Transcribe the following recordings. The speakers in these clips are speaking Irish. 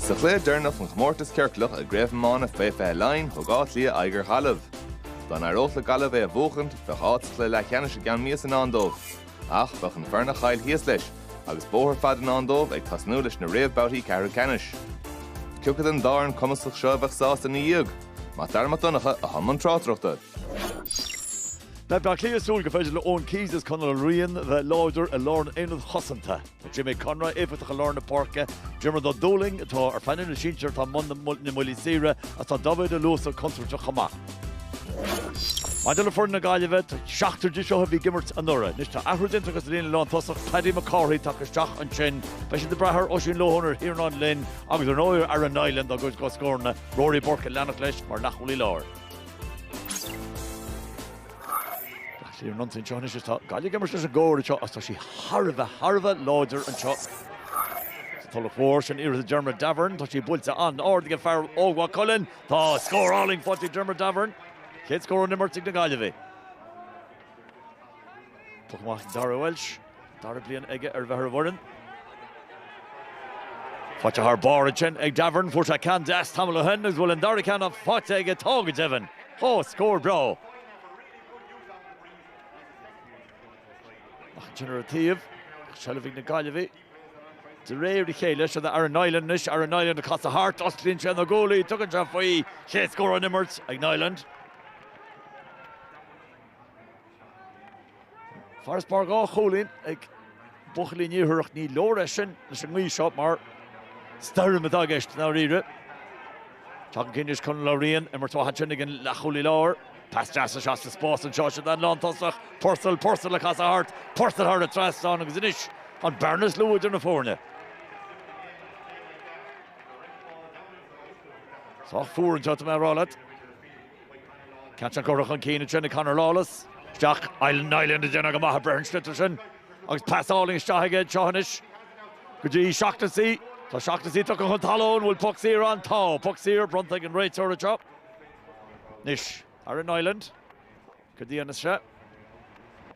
Sa chluiche deireanach den chomórtas ciorclach i gcraobh iomána fé 20 Laighean, thug Áth Cliath aghaidh ar Ghaillimh. Dá n-éireodh le Gaillimh é a bhuachaint, bheadh áit sa chluiche leathcheannais i gceann míosa i ndán dóibh. Ach bheadh an fhoireann a chaill thíos leis agus bóthar fada i ndán dóibh ag tosnú leis na réamhbabhtaí ceathrú ceannais. Cioca den dá fhoireann cumasach seo a bheadh sásta ina dhiaidh? Mac Dara Mac Donncha atá i mbun tráchtaireachta. Beidh Bleá Cliath ag súil go féidir le Eoin Keys is Conal Ó Riain a bheith láidir i lár an aonaid chosanta. Tá Jamie Conroy éifeachtach i lár na páirce. Diarmuid Ó Dúlaing atá ar phainéal na sinsear atá i mbun na mbuillí saoire agus tá Dáibhéid Ó Luasa contúirteach chomh maith. Maidir le foireann na Gaillimhe, tá seachtar díobh seo a bhí ag imirt anuraidh. Anois tá athrú déanta acu sa líne lántosach, Paddy McCarthy tagtha isteach ansin. Beidh siad ag brath ar Oisín Lohan ar Thiernan Leen agus ar ndóigh ar Aaron Niland dá gcuid scóranna, Rory Burke ag leanacht leis mar leathchúlaí láir. Tá sí ar an intinn seo anois is tá Gaillimh ag imirt leis an gcóir anseo is tá sí thar a bheith, thar a bheith láidir anseo. Sa Tulach Mhór. Sin iarracht ag Diarmuid Davoren, tá sí buailte an-ard ag an bhfear ó Mhaigh Cuilinn. Tá scór álainn faighte ag Diarmuid Davoren. Chéad scór ón imirt ag na Gaillimhigh. Puc amach ag Darragh Walsh. Dara bliain aige a bheith ar an bhfoireann. Faighte thar barr ansin ag Davoren. Fuair sé ceann deas tamall ó shin agus an bhfuil an dara ceann faighte aige? Tá go deimhin. Ó, scór breá. Amach ansin ar an taobh, seilbh ag na Gaillimhigh. De réir a chéile seo Aaron Niland anois, Aaron Niland ag casadh thart, osclaíonn sé na guaillí, tugann sé faoi, chéad scór ón imirt ag Niland. Farasbarr dhá chúilín ag buachaillí an Iarthair, ach ní leor é sin leis an ngaoth seo mar stoirm atá i gceist, dáiríre. Tagtha chun cinn anois Conal Ó Riain, imirt mhaith ansin ag an leathchúlaí láir. Pas deas is ea sa spás anseo, don lántosach, Purcell, Purcell ag casadh thart, Purcell thar an trasnán agus anois an bearna is lú idir na foirne. Sách fuar anseo, tá mé ag rá leat. Ceann deas curtha chun cinn ansin ag Conor Lawless isteach, Niland ag déanamh go maith ag breith ar an sliotar sin agus pas álainn isteach aige anseo anois go dtí Shaughnessy. Tá Shaughnessy tugtha chun talún, an bhfuil puc saor ann? Tá puc saor bronnta ag an réiteoir anseo anois. Aaron Niland, cad a dhéanfas sé?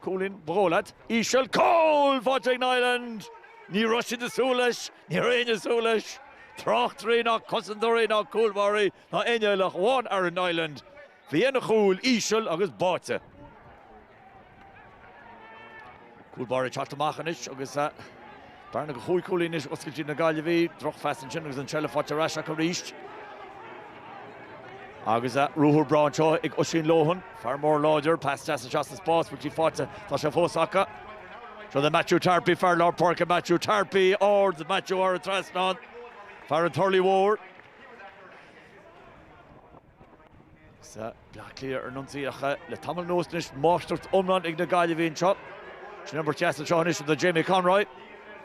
Cúilín, ba dhóigh leat. Íseal, cúl faighte ag Niland! Ní raibh siad ag súil leis, ní raibh éinne ag súil leis. Tráchtairí ná cosantóirí ná cúlbháirí Tá inniallach amháin Aaron Niland faoi dhéin an chúil íseal agus báite. Cúl báire ag teacht amach anois agus bearna de chúig chúilín anois oscailte ag na Gaillimhigh. Drochphas ansin agus an tseilbh faighte ar ais acu arís. Agus ruathar breá anseo ag Oisín Lohan, fear mór láidir, pas deas isteach sa spás, bhfuil sí faighte, tá sé fós acu. Seo do Matthew Tarpey, fear lár páirce Matthew Tarpey, ard ag Matthew, thar an trasnán, fear an Turlaigh Mhóir. Sa Bleá Cliath ar an ionsaí ach le tamall anuas anois máistreacht iomlán ag na Gaillimhigh anseo. Sin imirt dheas anseo anois do Jamie Conroy.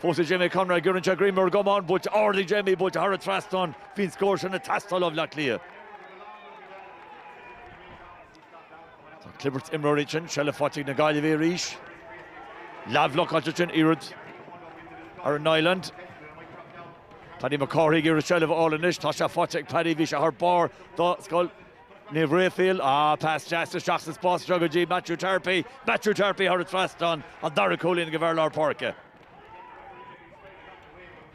Fós ag Jamie Conroy giorraíonn sé greim ar an gcamán buailte ard ag Jamie, buailte thar an trasnán bhí an scór sin ag teastáil ó Bhleá Cliath. Tá clibirt imreoirí ansin, seilbh faighte ag na Gaillimhigh arís. Leathbhlocáilte ansin, iarracht Aaron Niland. Paddy McCarthy ag iarraidh seilbh a fháil anois, tá sé faighte ag Paddy, bhí sé thar barr do Scoil Naomh Rafael. Ah, pas deas isteach sa spás anseo go dtí Matthew Tarpey. Matthew Tarpey thar an trasnán, an dara cúilín ag an bhfear lár páirce.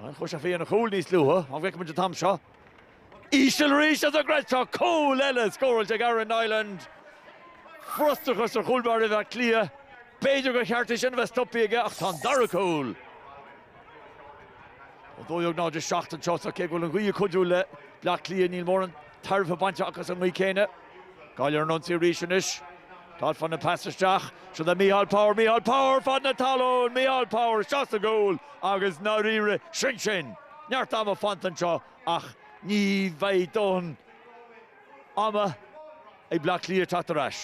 Chuaigh sé faoi dhéin an chúil níos luaithe? An bhfeicfidh muid an t-am seo íseal arís agus greadta? Cúl eile scóráilte ag Aaron Niland. Frustrachas ar chúl báire Átha Cliath. B'fhéidir gur cheart é sin a bheith stoptha aige ach tá an dara cúl. Ó 12-7 anseo, cé go bhfuil an ghaoth ag cuidiú le Bleá Cliath, níl mórán tairbhe bainte acu as an ngaoth céanna. Gaillimh ar an ionsaí arís anois. Todd fann ag pas isteach. Seo do Micheál Power, Micheál Power fad na talún! Micheál Power isteach sa gcúl agus i ndáiríre, sin sin! Neart ama fanta anseo ach ní bheidh dóthain ama ag Bleá Cliath teacht ar ais.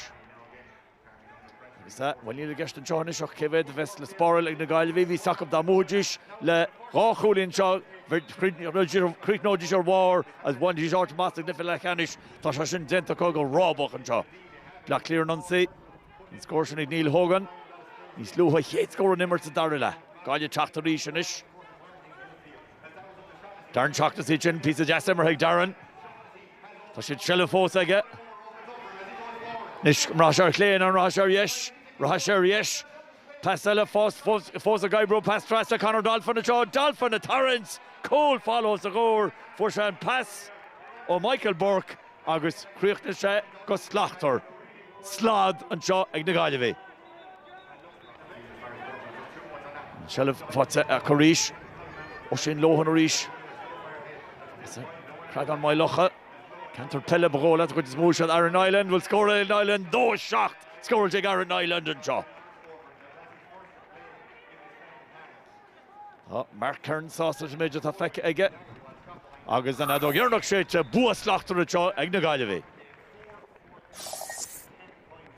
Is ea, bhuel níl i gceist anseo anois ach cé mhéad a bheas le spáráil ag na Gaillimhigh. Bhí a fhios acu dá mbuafaidís le dhá chúilín anseo, chríochnóidís ar bharr agus bhainfidís áit amach sa gcluiche leathcheannais. Tá sé sin déanta acu go rábach anseo. Bleá Cliath ar an ionsaí, an scór sin ag Neil Hogan. Níos luaithe, chéad scór ón imirt sa dara leath. Gaillimh ag teacht arís anois. Darren Shaughnessy ansin, píosa deas imeartha ag Darren. Tá an tseilbh fós aige. Anois, an rachaidh sé ar chlé nó an rachaidh sé ar dheis? Rachaidh sé ar dheis. Pas eile fós ag oibriú, pas trasna Conor Dolphin anseo, Dolphin ag tarraingt! Cúl folamh os a chomhair, fuair sé an pas ó Michael Burke agus chríochnaigh sé go slachtmhar. Slad anseo ag na Gaillimhigh. Seilbh faighte acu arís. Oisín Lohan arís. An Creagán Maigh Locha. Ceantar peile ba ghnách leat a chuid is mó ach Aaron Niland. Bhuel scóráil Aaron Niland 2-7. Scór ag Aaron Niland anseo. Tá Mark Kerins sásta leis an méid atá feicthe aige agus an ordóg ag éirí in airde tá bua slachtmhar anseo ag na Gaillimhigh.